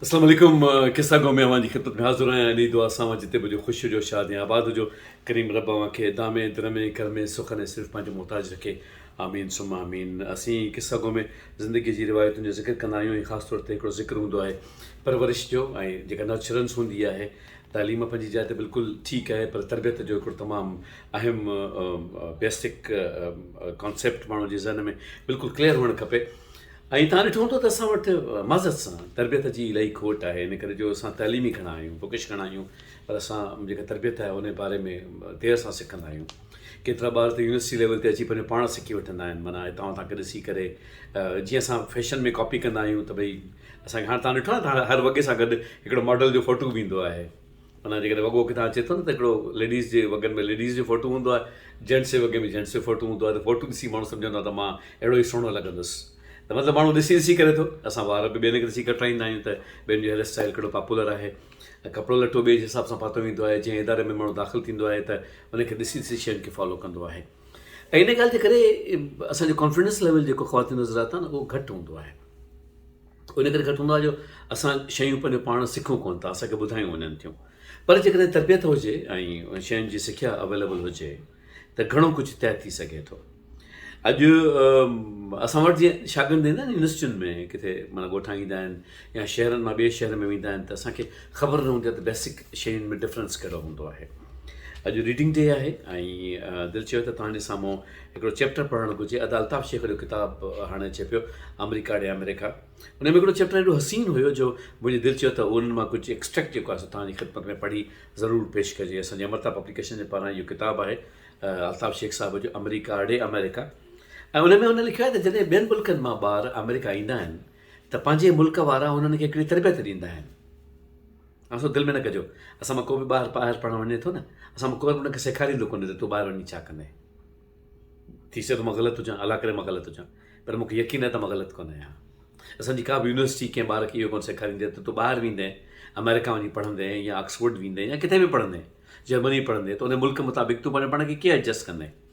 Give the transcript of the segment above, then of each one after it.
اسلام عليڪم قصه گو ۾ اوهان جي خدمت ۾ حاضر آهيان انهي دعا سان اوهان جتي به هجو خوش هجو شاد ۽ آباد هجو ڪريم رب اوهان کي دامي درمي گرمي سخن ۽ صرف پنهنجو محتاج رکي آمين ثم آمين اسين قصه گو ۾ زندگي جي روايتن جو ذڪر ڪندا آهيون ۽ خاص طور تي هڪڙو ذڪر هوندو آهي پرورش جو ۽ جيڪا نرچرنس هوندي آهي تعليم پنهنجي جاء تي بلڪل ٺيڪ آهي پر تربيت جو هڪڙو تمام اهم بيسڪ ڪانسيپٽ ماڻهو جي ذهن ۾ بلڪل ڪليئر هئڻ کپي ۽ تان ڏٺو هوندو ته اسان وٽ معذرت سان تربيت جي الائي کوٽ آهي ان ڪري جو اسان تعليمي گهڻا آهيون بڪش گهڻا آهيون پر اسان جيڪا تربيت آهي ان باري ۾ دير سان سکندا آهيون ڪيترا ٻار ته يونيورسٽي ليول تي اچي پنهنجو پاڻ سکي وٺندا آهن معنيٰ هتان هتان ڪري سي ڪري جيئن اسان فيشن ۾ ڪاپي ڪندا آهيون ته بھي اسان کي هاڻ توهان ڏٺو آهي ته هر وڳي سان گڏ هڪڙو ماڊل جو فوٽو به ايندو آهي معنيٰ جيڪڏهن وڳو ڪٿان اچي ٿو نه ته هڪڙو ليڊيز جي وڳن ۾ ليڊيز جو فوٽو هوندو آهي جينٽس جي وڳي ۾ جينٽس جو فوٽو هوندو آهي ته فوٽو ڏسي ماڻهو سمجهندو آهي ته مان اهڙو ئي سهڻو لڳندس ته مطلب ماڻهو ڏسي ڏسي ڪري ٿو اسان وار به ٻين کي ڏسي ڪٽرائيندا آهيون ته ٻين جو هيئر اسٽائيل ڪهڙو پاپولر آهي ۽ ڪپڙو لٽو ٻئي جي حساب سان پاتو ويندو آهي جنهن اداري ۾ ماڻهو داخل ٿيندو آهي ته ان کي ڏسي ڏسي شين کي فالو ڪندو آهي ۽ ان ڳالهه جي ڪري اسان جو ڪانفيڊنس ليول جيڪو خواتين نظر آتا نه اهو گهٽ هوندو آهي ان ڪري گهٽ هوندو آهي جو اسان شيون پنهنجو پاڻ سکون ڪونه ٿا اسانکي ٻڌايون وڃن ٿيون پر جيڪڏهن تربيت هجي ۽ شين جي سکيا اويليبل هجي ته گهڻو ڪجهه طئي ٿي سگهي ٿو اڄ اسان وٽ جي شاگرد ايندا آهن يونيورسٽين ۾ ڪٿي مانا ڳوٺان ايندا آهن يا شهرن مان ٻئي شهر ۾ ويندا آهن ته اسانکي خبر نه هوندي ته بيسڪ شين ۾ ڊفرنس ڪهڙو هوندو آهي اڄ ريڊنگ ڊي آهي ۽ دل چيو ته توهان جي سامهون هڪڙو چيپٽر پڙهڻ گهرجي ادا الطاف شيخ جو ڪتاب هاڻي ڇپيو آمريڪا ڏي آمريڪا ان ۾ هڪڙو چيپٽر ايڏو حسين هيو جو منهنجي دل چيو ته انهن مان ڪجهه ايڪسٽريڪٽ جيڪو آهي سو توهان جي خدمت ۾ پڙهي ضرور پيش ڪجي اسان جي امرتا پبليڪيشن جي پاران اهو ڪتاب آهي الطاف شيخ صاحب جو آمريڪا ڏي آمريڪا ۽ ان ۾ هن لکيو آهي ته جڏهن ٻين ملڪن مان ٻار آمريڪا ايندا آهن ته پنهنجي ملڪ وارا انهن کي هڪڙي تربيت ڏيندا آهن اسو دل ۾ نه ڪجو اسان مان ڪو به ٻار ٻاهر پڙهڻ وڃي ٿو نه اسان مان ڪو به ان کي سيکاريندو ڪونهي ته تون ٻاهر وڃي ڇا ڪندين ٿي سگهي ٿو مان غلط هجان الله ڪري مان غلط هجان پر مونکي يقين آهي ته مان غلط ڪونه آهيان اسان جي ڪا به يونيورسٽي ڪنهن ٻار کي اهو ڪونه سيکاريندي ته تون ٻاهر ويندين آمريڪا وڃي پڙهندين يا آڪسفورڊ ويندين يا ڪٿي به پڙهندين جرمني پڙهندين ته ان ملڪ مطابق تون پنهنجو پاڻ کي ڪيئن ايڊجسٽ ڪندين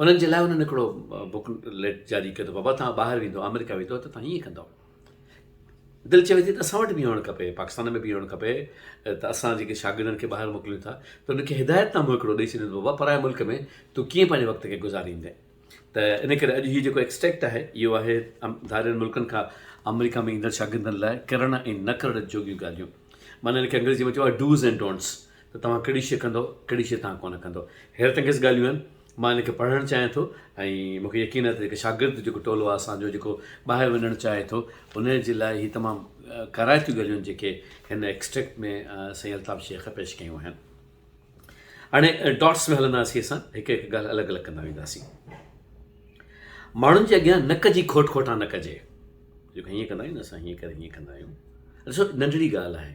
انهن جي لاء انهن هڪڙو بوڪ ليٽ جاري ڪيو ته بابا توهان ٻاهر ويندو آمريڪا ويندو ته توهان هيئن ڪندو دل چوي ٿي ته اسان وٽ به هئڻ کپي پاڪستان ۾ به هئڻ کپي ته اسان جيڪي شاگردن کي ٻاهر موڪليون ٿا ته ان کي هدايت نامو هڪڙو ڏئي ڇڏيو بابا پرائي ملڪ ۾ تون ڪيئن پنهنجي وقت کي گذاريندين ته ان ڪري اڄ هي جيڪو ايڪسٽريڪٽ آهي اهو آهي ڌارين ملڪن کان آمريڪا ۾ ايندڙ شاگردن لاء ڪرڻ ۽ نه ڪرڻ جوڳيون ڳالهيون معنی ان کي انگريزي ۾ چئبو آهي ڊوز اينڊ ڊونٽس ته توهان ڪهڙي شيء ڪندؤ، ڪهڙي شيء توهان ڪونه ڪندؤ. حيرت انگيز ڳالهيون آهن. مان هن کي پڙهڻ چاهيان ٿو ۽ مون کي يقين آهي ته جيڪي شاگرد جيڪو ٽولو آهي اسان جو جيڪو ٻاهر وڃڻ چاهي ٿو ان جي لاء هي تمام ڪارائتيون ڳالهيون آهن جيڪي هن ايڪسٽريڪٽ ۾ سائين الطاف شيخ پيش ڪيون آهن. هاڻي ڊاٽس ۾ هلنداسين اسان هڪ هڪ ڳالهه الڳ الڳ ڪندا وينداسين. ماڻهن جي اڳيان نڪ جي کوٽ کوٽان نه ڪجي. جيڪو هيئن ڪندا آهيون اسان هيئن ڪري هيئن ڪندا آهيون. ڏسو ننڍڙي ڳالهه آهي.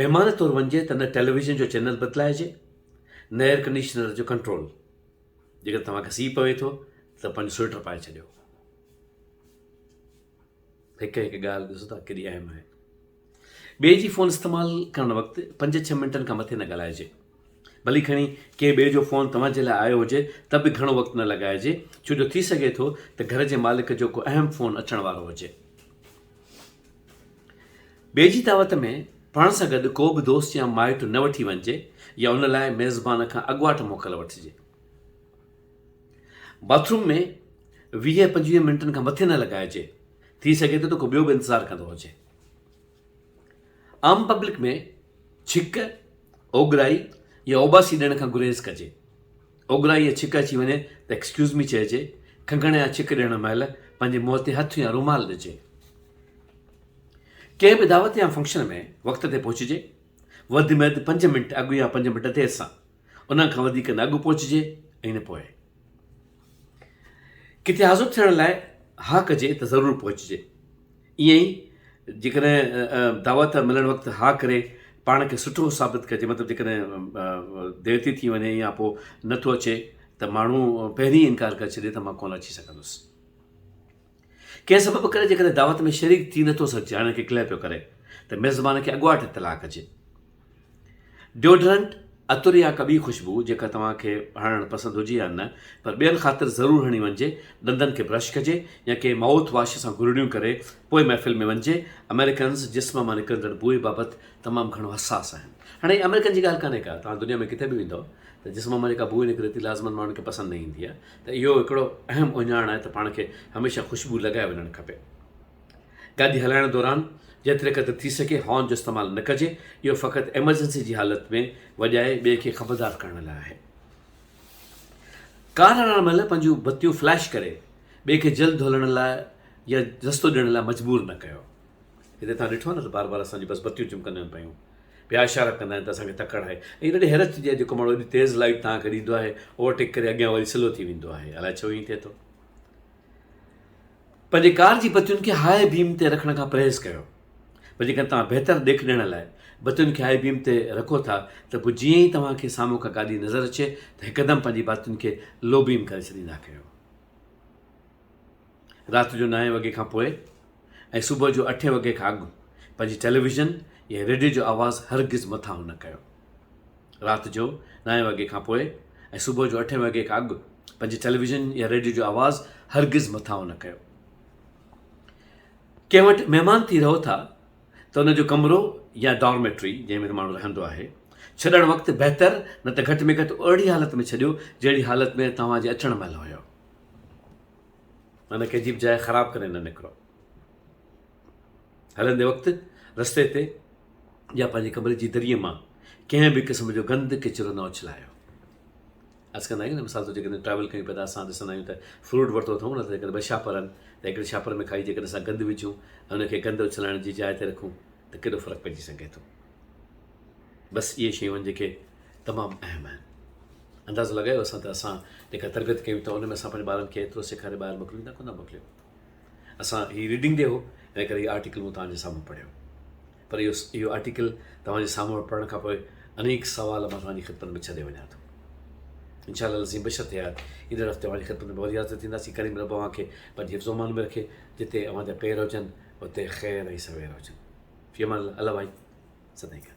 مهمان طور وڃجي ته نه ٽيليويزن جو چينل بدلائجي نه ايئر ڪنڊيشنر جو ڪنٽرول جيڪڏهن توهان کي سي پوي ٿو ته پنهنجو سوئيٽر پائي ڇڏيو هڪ هڪ ڳالهه ڏسو ٿا ڪيڏي اهم آهي ٻئي جي فون استعمال ڪرڻ وقت پنج ڇهه منٽن کان مٿي نه ڳالهائجي ڀلي کڻي ڪي ٻئي جو فون توهان جي لاء آيو هجي ته به گهڻو وقت نه لڳائجي ڇو جو ٿي سگهي ٿو ته گهر جي مالڪ جو ڪو اهم فون اچڻ وارو هجي ٻئي جي دعوت ۾ پاڻ سان گڏ ڪو به دوست يا مائٽ نه وٺي وڃجي يا ان لاء ميزبان کان اڳواٽ موڪل وٺجي. باٿ روم ۾ ويهه پنجويهه منٽن کان مٿي نه لڳائجي، ٿي سگهي ٿو ته ڪو ٻيو به انتظار ڪندو هجي. عام پبلڪ ۾ ڇڪ، اوڳڙائي يا اوٻاسي ڏيڻ کان گريز ڪجي. اوڳرائي يا ڇڪ اچي وڃي ته ايڪسڪيوز مي چئجي، کنگهڻ يا ڇڪ ڏيڻ مهل پنهنجي منهن تي هٿ يا رومال ڏجي. ڪنهن به دعوت يا فنڪشن ۾ وقت تي پهچجي، وڌ ۾ وڌ پنج منٽ اڳ يا پنج منٽ دير سان، انهن کان وڌيڪ نه اڳ پهچجي ۽ نه پوء. ڪٿي حاضر ٿيڻ لاء ها ڪجي ته ضرور پهچجي. ائين ئي جيڪڏهن دعوت ملڻ وقت ها ڪري پاڻ کي سٺو ثابت ڪجي مطلب جيڪڏهن ديرتي ٿي وڃي يا پوء نٿو اچي ته ماڻهو پهرين انڪار ڪري ڇڏي ته مان ڪونه اچي سگهندس ڪنهن سبب ڪري جيڪڏهن دعوت ۾ شريڪ ٿي نٿو سگهجي هاڻي ڪي ڪلهه پيو ڪري ته ميزبان کي اڳواٽ اطلاع ڪجي ڊيوڊرنٽ، عطر يا ڪا ٻي خوشبو جيڪا توهان کي هڻڻ پسند هجي يا نه پر ٻين خاطر ضرور هڻي وڃجي، ڏندن کي برش ڪجي يا ڪنهن مائوٿ واش سان گرڙيون ڪري پوء محفل ۾ وڃجي، آمريڪنز جسم مان نڪرندڙ بوء بابت تمام گهڻو حساس آهن. هاڻي هي آمريڪن جي ڳالهه ڪانهي ڪا توهان دنيا ۾ ڪٿي به ويندؤ ته جسم مان جيڪا بوء نڪري ٿي لازمن ماڻهن کي پسند نه ايندي آهي ته اهو هڪڙو اهم اهڃاڻ آهي ته پاڻ کي هميشه خوشبو لڳائي وڃڻ کپي. گاڏي هلائڻ دوران جيتري قدر ٿي سگهي هارن جو استعمال نه ڪجي، اهو فقط ايمرجنسي جي حالت ۾ وڄائي ٻئي کي خبردار ڪرڻ لاء آهي. ڪار هلائڻ مهل پنهنجون بتيون فليش ڪري ٻئي کي جلد هلڻ لاء يا رستو ڏيڻ لاء مجبور نه ڪيو. هتي توهان ڏٺو نه ته بار بار اسان جون بس بتيون چمڪنديون آهن پيون. ٻيا اشارا ڪندا آهن ته اسان کي تڪڙ آهي. ائين رڏي حيرت ٿيندي آهي جيڪو ماڻهو ايڏي تيز لائيٽ توهان کي ڏيندو آهي، اوورٽيڪ ڪري اڳيان وري سلو ٿي ويندو آهي. الائي ڇو ائين ٿئي ٿو؟ پنهنجي ڪار جي بتين کي هاء بيم تي رکڻ کان پرهيز ڪريو پر جيڪڏهن توهان بهتر ڏيک ڏيڻ لاء بتين کي هاء بيم تي رکو ٿا ته پوء جيئن ئي توهان کي سامهون ڪا گاڏي نظر اچي ته هڪدم پنهنجي بتين کي لو بيم ڪري ڇڏيندا ڪريو. رات جو نائين وڳي کان پوء ۽ صبح جو اٺين وڳي کان اڳ پنهنجي ٽيليويزن يا ريڊيو جو آواز هرگز مٿانهون نه ڪيو. رات جو نائين وڳي کان پوء ۽ صبح جو اٺين وڳي کان اڳ پنهنجي ٽيليويزن يا ريڊيو جو آواز هرگز مٿانهون نه ڪيو. ڪنهن وٽ مهمان ٿي رهو ٿا ته ان جو ڪمرو يا ڊارميٽري جنهن ۾ ماڻهو رهندو آهي ڇڏڻ وقت بهتر نه ته گهٽ ۾ گهٽ اهڙي حالت ۾ ڇڏيو جهڙي حالت ۾ توهان جي اچڻ مهل هيو. ان کي عجيب جاء خراب ڪري نه نڪرو. هلندي وقت رستي تي يا پنهنجي ڪمري جي دريء مان ڪنهن به قسم جو گند ڪچرو نه اڇلايو عرض ڪندا آهيون نه مثال طور جيڪڏهن ٽريول ڪيون پيا ته اسان ڏسندا آهيون ته فروٽ ورتو اٿئون نه ته جيڪڏهن ٻه شاپر آهن ته هڪڙي شاپر ۾ کائي جيڪڏهن اسان گند وجھون ۽ ان کي گند اڇلائڻ جي جاء تي رکون ته ڪيڏو فرق پئجي سگھي ٿو بس اهي شيون آهن جيڪي تمام اهم آهن اندازو لڳايو اسان ته اسان جيڪا تربيت ڪيون ٿا ان ۾ اسان پنهنجي ٻارن کي ايترو سيکاري ٻاهر موڪليون ٿا ڪو نه موڪليون اسان هي ريڊنگ ڊي هو ان ڪري هي آرٽيڪل مون توهان جي سامهون پڙهيو پر اهو اهو آرٽيڪل توهان جي سامهون پڙهڻ کان پوء انيڪ سوال مان توهان جي خدمت ۾ ڇڏي وڃان ٿو ان شاء الله لذيم بشت حيات ايندڙ هفته اوهان جي خدمت ۾ وري حاضر ٿينداسين ڪريم رب اوهان کي پنهنجي حفظ امان ۾ رکي جتي اوهان جا پير هجن اتي خير ۽ سوير هجن في امان الله الله ڀائي سدائين گڏ